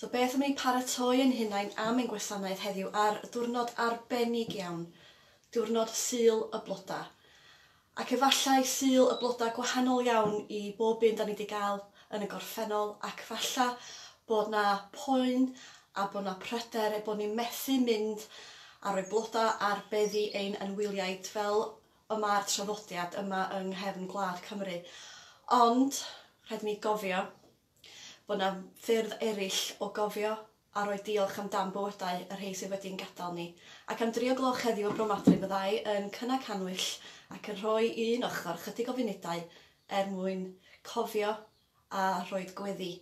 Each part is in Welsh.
So beth am i ni paratoi ein hunain am ein gwasanaeth heddiw ar ddiwrnod arbennig iawn, diwrnod Sul y Blodau. Ac efallai Sul y Blodau gwahanol iawn i bob un 'da ni 'di gael yn y gorffennol, ac falla bod 'na poen a bod 'na pryder eu bod ni methu mynd a rhoi blodau ar beddi ein anwyliaid fel y mae'r traddodiad yma yng nghefn gwlad Cymru. Ond, rhaid i ni gofio, Bod yna ffyrdd eraill o gofio a rhoi diolch am dan bywydau y rhei sydd wedi ein gadael ni. Ac am dri o gloch heddiw y bromadwy fyddai yn cynnau cannwyll ac yn rhoi i un ochr chydig o funudau er mwyn cofio a rhoid gweddi.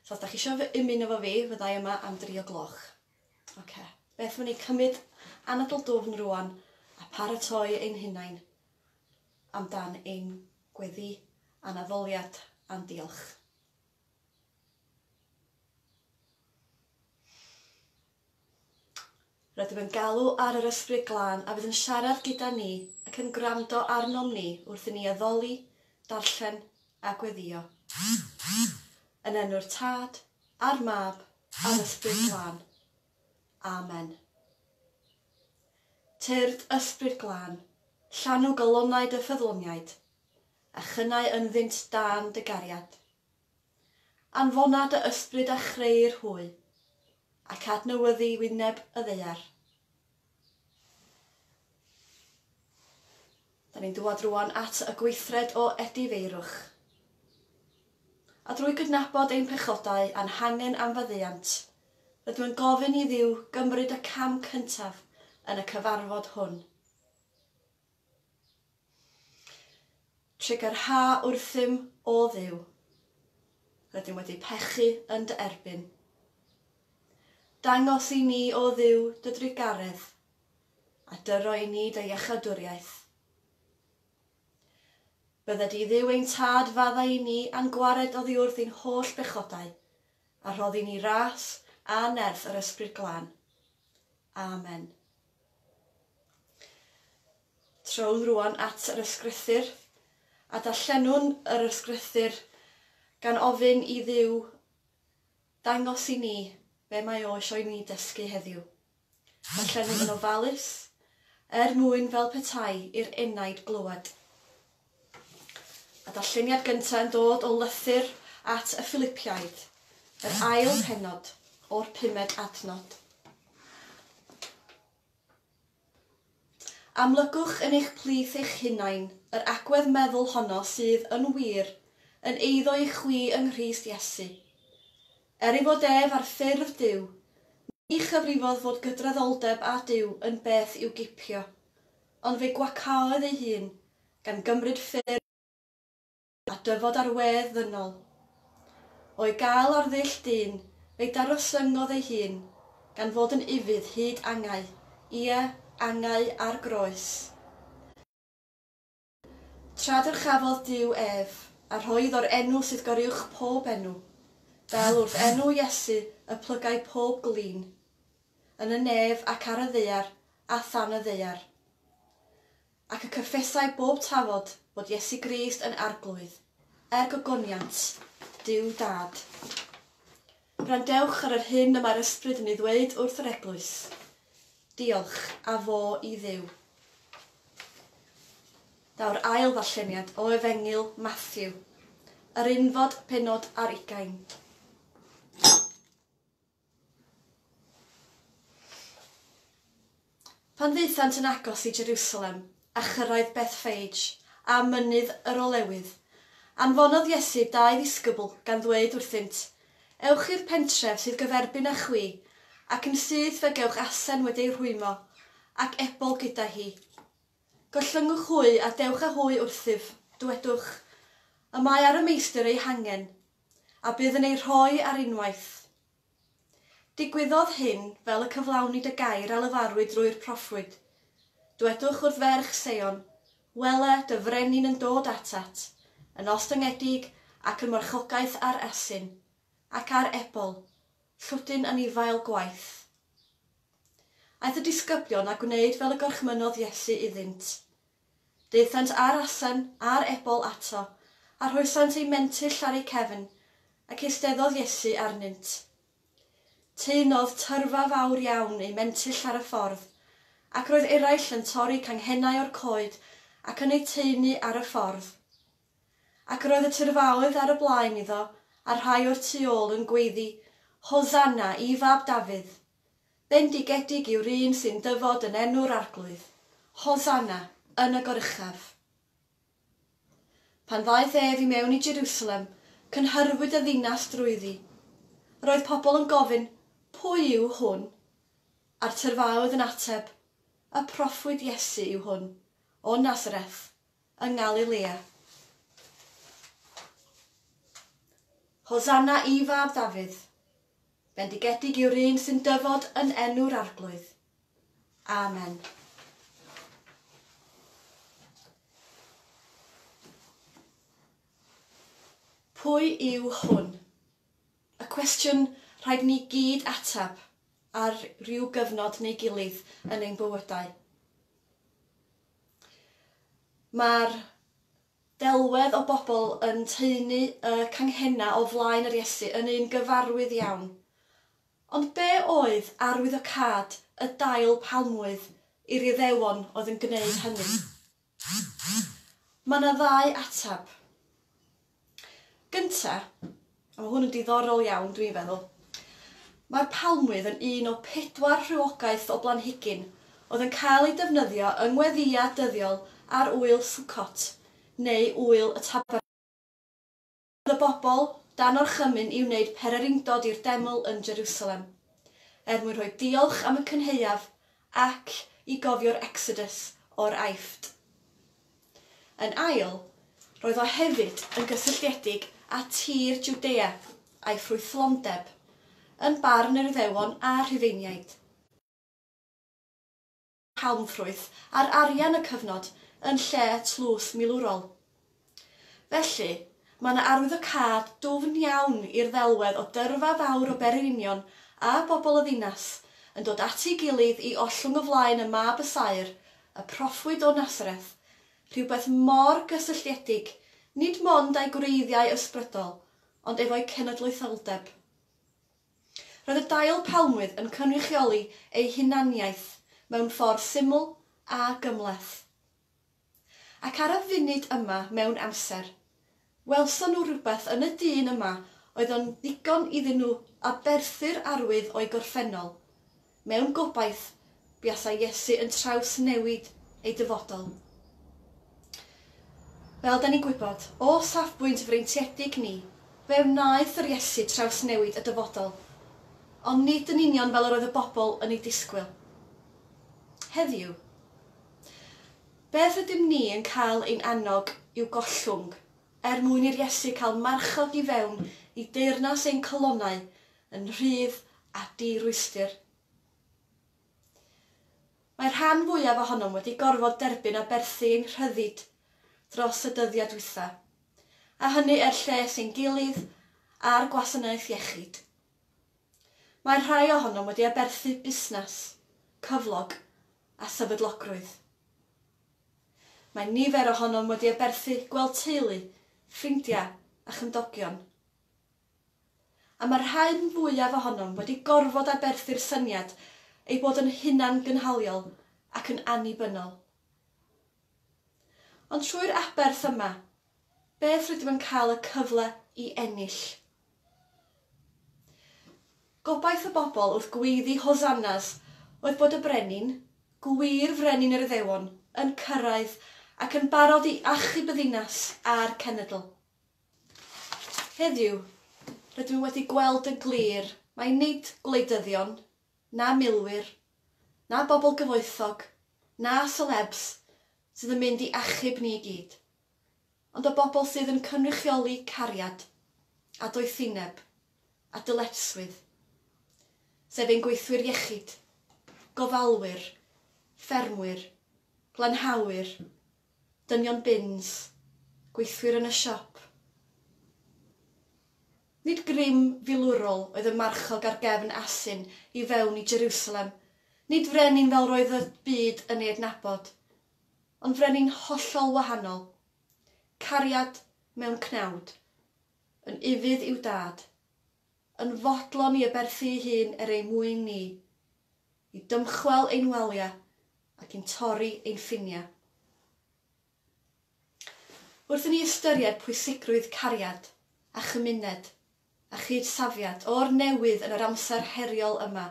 So os da chi isio ymuno efo fi fyddai yma am dri o gloch. Ok, beth am i ni cymryd anadl dwfn rwan a paratoi ein hunain amdan ein gweddi a'n addoliad a'n diolch. Rydym yn galw ar yr Ysbryd Glân a fydd yn siarad gyda ni ac yn gwrando arnom ni wrth i ni addoli, darllen a gweddio. Yn enw'r Tad, a'r Mab, a'r Ysbryd Glân. Amen. Tyrd Ysbryd Glân, llanw galonnau dy ffyddloniaid, a chynnau ynddynt dan dy gariad. Anfona dy ysbryd a chreu'r hwy, ac adnewyddu wyneb y ddaear. Da ni'n dŵad rŵan at y gweithred o edifeirwch. A drwy gydnabod ein pechodau a'n hangen am faddeuant, rydw yn gofyn i Dduw gymryd y cam cyntaf yn y cyfarfod hwn. Trigger Ha wrthym, O Dduw! Rydym wedi pechu yn dy erbyn. Dangos i ni, O Dduw, dy drugaredd, a dyro i ni dy iachawdwriaeth. Bydde di Dduw ein Tad faddau i ni a'n gwared oddiwrth ein holl bechodau, a rhoddi ni ras a nerth yr Ysbryd Glân. Amen. Trowch rŵan at yr ysgrythur, a darllenwn yr ysgrythur gan ofyn i Dduw ddangos i ni be mae o isio i ni ddysgu heddiw. Darllenwn yn ofalus, er mwyn fel petai i'r enaid glywed. Y darlleniad gyntaf yn dod o lythyr at y Ffilipiaid, yr ail pennod o'r pumed adnod. Amlygwch yn eich plith eich hunain yr agwedd meddwl honno sydd, yn wir, yn eiddo i chwi yng Nghrist Iesu. Er ei fod ef ar ffurf Duw, ni chyfrifodd fod gydraddoldeb â Duw yn beth i'w gipio. Ond fe gwacaodd ei hun, gan gymryd ffyrdd llwyddiannus a dyfod ar wedd ddynol. O'i gael ar ddull dyn, fe daroslyngodd ei hun, gan fod yn ufudd hyd angau, ie, angau ar groes. Felly, tra dyrchafodd Duw ef, a rhoi iddo'r enw sydd goruwch pob enw, fel wrth enw Iesu y plygai pob glin, yn y nef ac ar y ddaear a than y ddaear. Ac y cyffesai bob tafod fod Iesu Grist yn Arglwydd, er gogoniant Duw Dad. Gwrandewch ar yr hyn y mae'r Ysbryd yn ei ddweud wrth yr Eglwys. Diolch, a fo i Dduw. Daw'r ail ddarlleniad o Efengyl Matthew, yr unfod pennod ar ugain. Pan ddaethant yn agos i Jerusalem a chyrraedd Bethphage a Mynydd yr Olewydd, anfonodd Iesu dau ddisgybl gan ddweud wrthynt, Ewch i'r pentref sydd gyferbyn â chwi, ac yn syth fe gewch asen wedi ei rhwymo, ac ebol gyda hi. Gollyngwch hwy a dewch â hwy wrthyf, dywedwch, Y mae ar y Meistr ei hangen, a bydd yn ei rhoi ar unwaith. Digwyddodd hyn fel y cyflawnid y gair a lefarwyd drwy'r proffwyd, Dwedwch wrth ferch Seion, Wele, dy frenin yn dod atat, yn ostyngedig ac yn marchogaeth ar asyn, ac ar ebol, llwdyn anifail gwaith. Aeth y disgyblion a gwneud fel y gorchmynnodd Iesu iddynt. Daethant â'r asen a'r ebol ato, a rhoesant eu mentyll ar eu cefn, ac eisteddodd Iesu arnynt. Teinodd tyrfa fawr iawn eu mentyll ar y ffordd, ac roedd eraill yn torri canghennau o'r coed ac yn eu taenu ar y ffordd. Ac yr oedd y tyrfaoedd ar y blaen iddo, a rhai o'r tu ôl yn gweiddi, Hosanna i fab Dafydd! Bendigedig yw'r un sy'n dyfod yn enw'r Arglwydd, Hosanna yn y goruchaf. Pan ddaeth ef i mewn i Jerusalem, cynhyrfwyd y ddinas drwyddi. Roedd pobl yn gofyn, Pwy yw hwn? A'r tyrfaoedd yn ateb, Y proffwyd Iesu yw hwn, o Nazareth, yng Ngalilea. Hosanna i Fab Ddafydd! Bendigedig yw'r un sy'n dyfod yn enw'r Arglwydd. Amen. Pwy yw hwn? Y cwestiwn rhaid ni gyd atab ar rhyw gyfnod neu gilydd yn ein bywydau. Mae'r delwedd o bobl yn taenu y canghennau o flaen yr Iesu yn un gyfarwydd iawn. Ond be oedd arwyddocâd y dail palmwydd i'r Iuddewon oedd yn gwneud hynny? Mae yna ddau ateb. Gynta', a ma' hwn yn diddorol iawn dwi'n feddwl, mae'r palmwydd yn un o pedwar rhywogaeth o blanhigyn oedd yn cael eu defnyddio yng ngweddïau dyddiol ar Ŵyl Sukkot, neu Ŵyl y Tabernacl. Cafodd y bobl dan orchymyn i wneud pererindod i'r deml yn Jerusalem, er mwyn rhoi diolch am y cynhaeaf Ac i gofio'r Exodus o'r Aifft. Yn ail, roedd o hefyd yn gysylltiedig â tir Jwdea a'i ffrwythlondeb, yn barn yr Iddewon a Rhufeiniaid. Palmffrwyth ar arian y cyfnod yn lle tlws milwrol. Felly, mae yna arwyddocâd dwfn iawn i'r ddelwedd o dyrfa fawr o Bererinion a bobl y ddinas yn dod at ei gilydd i ollwng o flaen y Mab y Saer, y Proffwyd o Nasareth, rhywbeth mor gysylltiedig nid mond â'i gwreiddiau ysbrydol, ond efo'i cenedlaetholdeb. Roedd y dail palmwydd yn cynrychioli ei hunaniaeth mewn ffordd syml a gymhleth. Ac ar y funud yma mewn amser, welson nhw rywbeth yn y dyn yma oedd yn ddigon iddyn nhw aberthu'r arwydd o'i gorffennol, mewn gobaith buasai Iesu yn trawsnewid ei dyfodol. Fel da ni'n gwybod, o safbwynt freintiedig ni, fe wnaeth yr Iesu trawsnewid y dyfodol, ond nid yn union fel yr oedd y bobl yn ei disgwyl. Heddiw, Beth ydym ni yn cael ein annog i'w gollwng, er mwyn i'r Iesu cael marchog i fewn i deyrnas ein calonnau yn rhydd a di-rwystr? Mae'r rhan fwyaf ohonom wedi gorfod derbyn aberthu ein rhyddid dros y dyddiau dwytha, a hynny er lles ein gilydd a'r gwasanaeth iechyd. Mae'r rhai ohonom wedi aberthu busnas, cyflog, a sefydlogrwydd. Mae nifer ohonom wedi aberthu gweld teulu, ffrindiau a chymdogion. A mae'r rhain fwyaf ohonom wedi gorfod aberthu'r syniad ei bod yn hunangynhaliol ac yn annibynnol. Ond trwy'r aberth yma, beth rydym yn cael y cyfle i ennill? Gobaith y bobl wrth gweiddi Hosannas oedd bod y Brenin, gwir Frenin yr Iddewon, yn cyrraedd ac yn barod i achub y ddinas a'r cenedl. Heddiw, rydyn nhw wedi gweld yn glir mai nid gwleidyddion, na milwyr, na bobl gyfoethog, na selebs sydd yn mynd i achub ni i gyd. ond o bobl sydd yn cynrychioli cariad a doethineb a dyletswydd, sef ein gweithwyr iechyd, gofalwyr, ffermwyr, glanhawyr, dynion bins, gweithwyr yn y siop. Nid grym filwrol oedd y marchog ar gefn asyn i fewn i Jerusalem, nid frenin fel roedd y byd yn ei adnabod. Ond frenin hollol wahanol. Cariad mewn cnawd. Yn ufudd i'w dad. Yn fodlon i aberthu'i hun er ei mwyn ni. I dymchwel ein waliau ac i'n torri ein ffiniau. Wrth i ni ystyried pwysigrwydd cariad a chymuned a chyd-safiad o'r newydd yn yr amser heriol yma,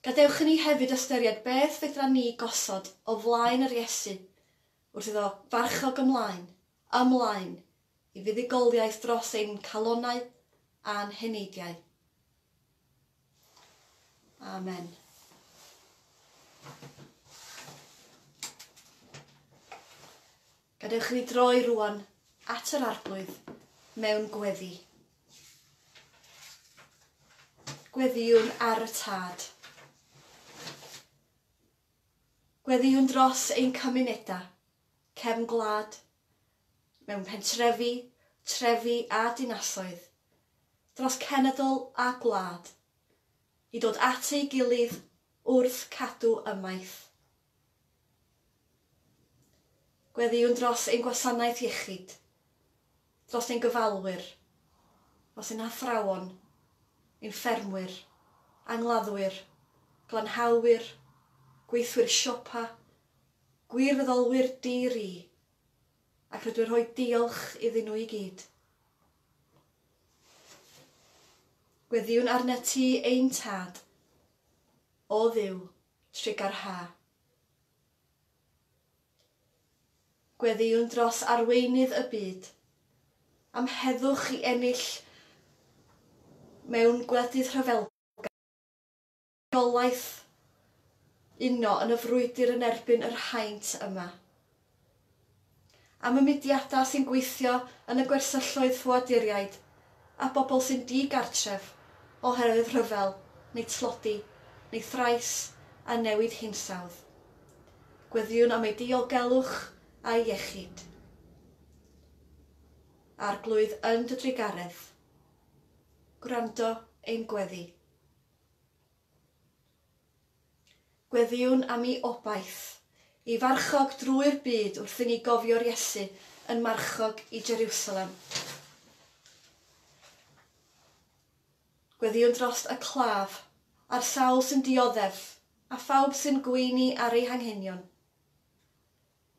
Gadewch i ni hefyd ystyried beth fedran ni gosod o flaen yr Iesu wrth iddo farchog ymlaen, ymlaen i fuddugoliaeth dros ein calonnau a'n heneidiau. Amen. Gadewch i ni droi rŵan at yr Arglwydd mewn gweddi. Gweddïwn ar y Tad. Gweddïwn dros ein cymunedau, cefn gwlad, mewn pentrefi, trefi a dinasoedd, dros cenedl a gwlad, i dod at ei gilydd wrth cadw ymaith Gweddïwn dros ein gwasanaeth iechyd, dros ein gofalwyr, dros ein hathrawon, ein ffermwyr, angladdwyr, glanhawyr, gweithwyr siopa, gwirfoddolwyr di-ri, ac rydw i'n rhoi diolch iddyn nhw i gyd. Gweddïwn arnat ti, ein Tad. O Dduw, Trega'r Ha. Gweddïwn dros arweinydd y byd am heddwch i ennill mewn gwledydd rhyfelgar, rheolaeth uno yn y frwydr yn erbyn yr haint yma. am y mudiadau sy'n gweithio yn y gwersylloedd ffoaduriaid a bobl sy'n di-gartref oherwydd rhyfel neu tlodi neu thrais a newid hinsawdd. Gweddïwn am eu diogelwch a'u iechyd. Arglwydd yn dy drugaredd, gwrando ein gweddi. Gweddïwn am 'i obaith. Y farchog drwy'r byd wrth i ni gofio'r Iesu yn marchog i Jeriwsalem. Gweddïwn drost y claf, a'r sawl sy'n dioddef, a phawb sy'n gweini ar ei hanghenion.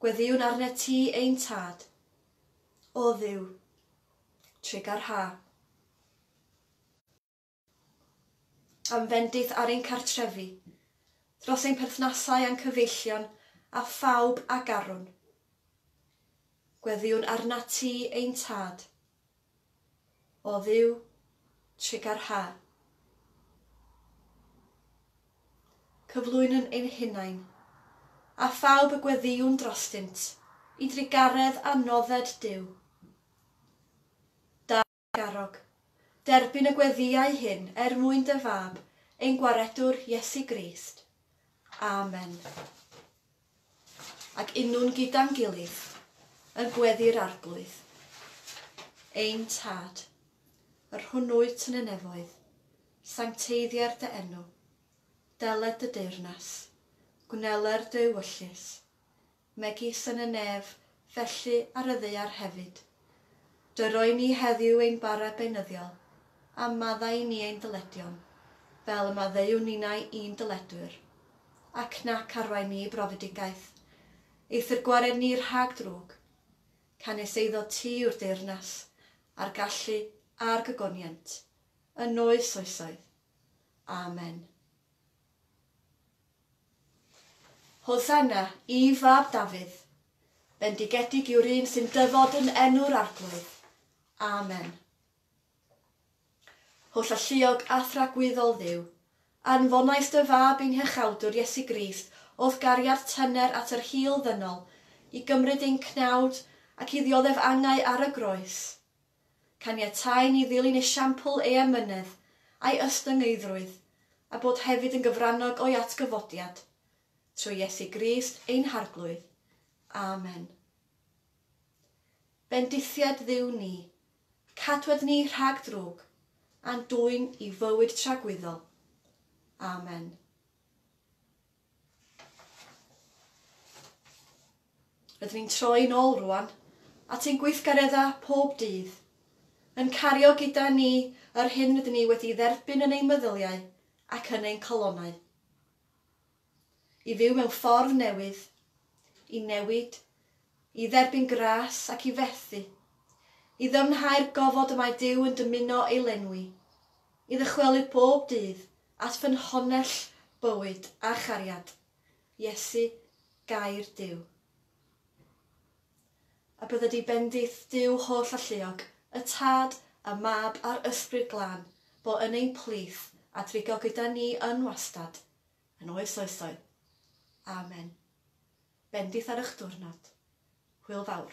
Gweddïwn arnet ti, ein Tad. O Dduw, trigarha. yn fendith ar ein cartrefi, dros ein perthnasau a'n cyfeillion a phawb a garwn. Gweddïwn arnat ti, ein Tad. O Dduw, tregar ha. Cyflwynwn ein hunain, a phawb y gweddïwn drostynt, i drugaredd a nodded Duw. Garrog. Derbyn y gweddïau hyn er mwyn dy Fab, ein Gwaredwr Iesu Grist. Amen. Ac unnwn gyda'n gilydd yn gweddu'r Arglwydd. Ein Tad, yr hwn wyt yn y nefoedd, sancteiddier dy enw. Deled dy deyrnas. Gwneler dy ewyllys. megis yn y nef, felly ar y ddaear hefyd. Dy roi ni heddiw ein bara beunyddiol, a maddau i ni ein dyledion, fel y maddeuwn ninnau i'n dyledwyr. Ac na carwai ni i brofedigaeth, ei thyrgwared ni rhag drwg. Canys eiddo ti yw'r deyrnas, a'r gallu, a'r gogoniant, yn oes oesoedd. Amen. Hosanna, i Fab Dafydd! Bendigedig yw'r un sy'n dyfod yn enw'r Arglwydd. Amen. Holl alluog a thragwyddol Dduw, anfonais dy Fab i'n Hychawdwr Iesu Grist o'th gariad tyner at yr hil ddynol i gymryd ein cnawd ac i ddioddef angau ar y groes. Caniatáu ni ddilyn esiampl ei emynedd a'i ystyngeiddrwydd, a bod hefyd yn gyfrannog o'i atgyfodiad. Trwy Iesu Grist ein Harglwydd. Amen. Bendithiad Dduw ni, cadwed ni rhag drwg, a'n dwyn i fywyd tragwyddol. Amen. Rydyn ni'n troi nôl rŵan at ein gweithgareddau pob dydd, yn cario gyda ni yr hyn rydyn ni wedi'i dderbyn yn ein meddyliau ac yn ein calonnau, i fyw mewn ffordd newydd, i newid I dderbyn gras ac i fethu. I ddyfnhau'r gofod y mae Duw yn dymuno ei lenwi. I ddychwelyd bob dydd at ffynhonnell bywyd a chariad, Iesu, Gair Duw. A bydda di bendith Duw holl alluog, y Tad, y Mab a'r Ysbryd Glân, bo yn ein plith a drigo gyda ni yn wastad, yn oes oesoedd. Amen. Bendith ar y'ch diwrnod. Hwyl fawr.